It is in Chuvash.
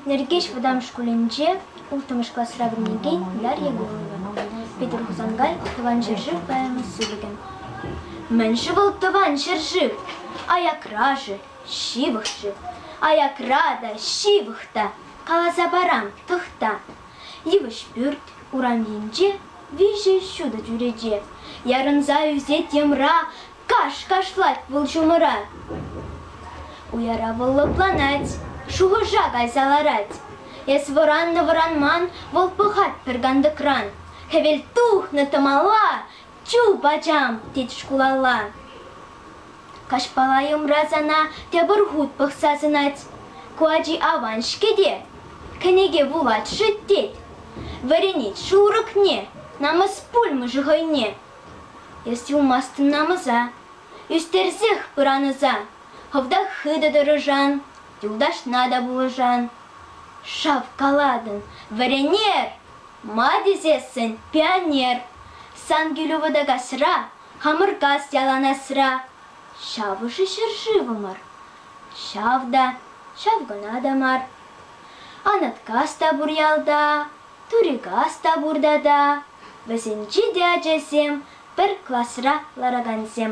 Нӗркеҫ вӑтам шкулӗнче улттӑмӗш класра вӗренекен Ляр Егорова, Петӗр Хусанкай Тӑван ҫӗршыв поэми сыпӑкӗ. Мӗн-ши вӑл Тӑван ҫӗршыв? Аякра-ши, ҫывӑх-ши? Аякра та, ҫывӑх та, каласа парам, тӑхта. йывӑҫ пӳрт урамӗнче виҫӗ ҫутӑ чӳрече ярӑнса ӳсет йӑмра каш кашлать вӑл ҫумӑра уяра вӑл лӑпланать шухӑша кайса ларать эс вӑраннӑ вӑранман вӑл пӑхать пӗр кантӑкран хӗвел тухнӑ тӑмала чуп ачам тет шкулалла Каҫпала йӑмра сана тепӗр хут пӑхса сӑнать. Ку ачи аван-ҫке те, кӗнеке вулать-ши тет. Вӗренет шурӑкне, намӑс пулмӗ-ши хӑйне. Эс юлмастӑн намӑса, ӳстерсех пыран ӑса. Хӑвтах хытӑ тӑрӑшан, юлташна та пулӑшан. Шавкалатӑн, вӗренер! Ма тесессӗн пионер. Сан кӳлӳ вӑтӑ касра Хамӑркас яланасра ҫавӑшӗ ҫӗршывӑмӑр. Ҫав та, ҫав кӑна та мар. Анаткас та пур ялта, Турикас та пур тата. Вӗсенчи те ачасем пӗр класра ларакансем.